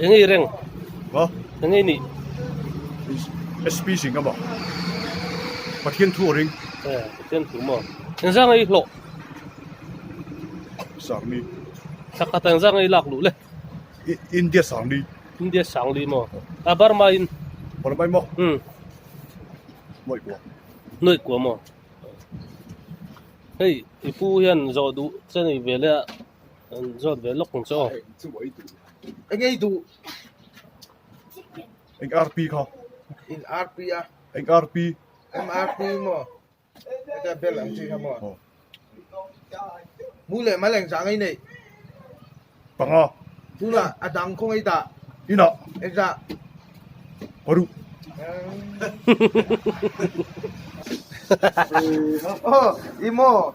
Eng i reng? Ha? Eng i ni? SP sing ama. Pathian thu a ring. Eh, pathian thu ma. Eng zang i hlok? Sang ni. Saka tang zang i lak lu le. India sang ni. India sang li ma. A Burma in. Burma in ma. Hmm. Noi kwa. Noi kwa ma. Hei, ipu hian zo du chen i vele a. An zawt ve lawk ang chu aw. Eng ngei duh. Eng RP kha. In RP a. Eng RP. Em RP mo. Eka bel ang chi kha mo. Mu le ma leng zang ai nei. Panga. Tu la adang khong ai ta. Ina. Eka. Paru. Oh, imo.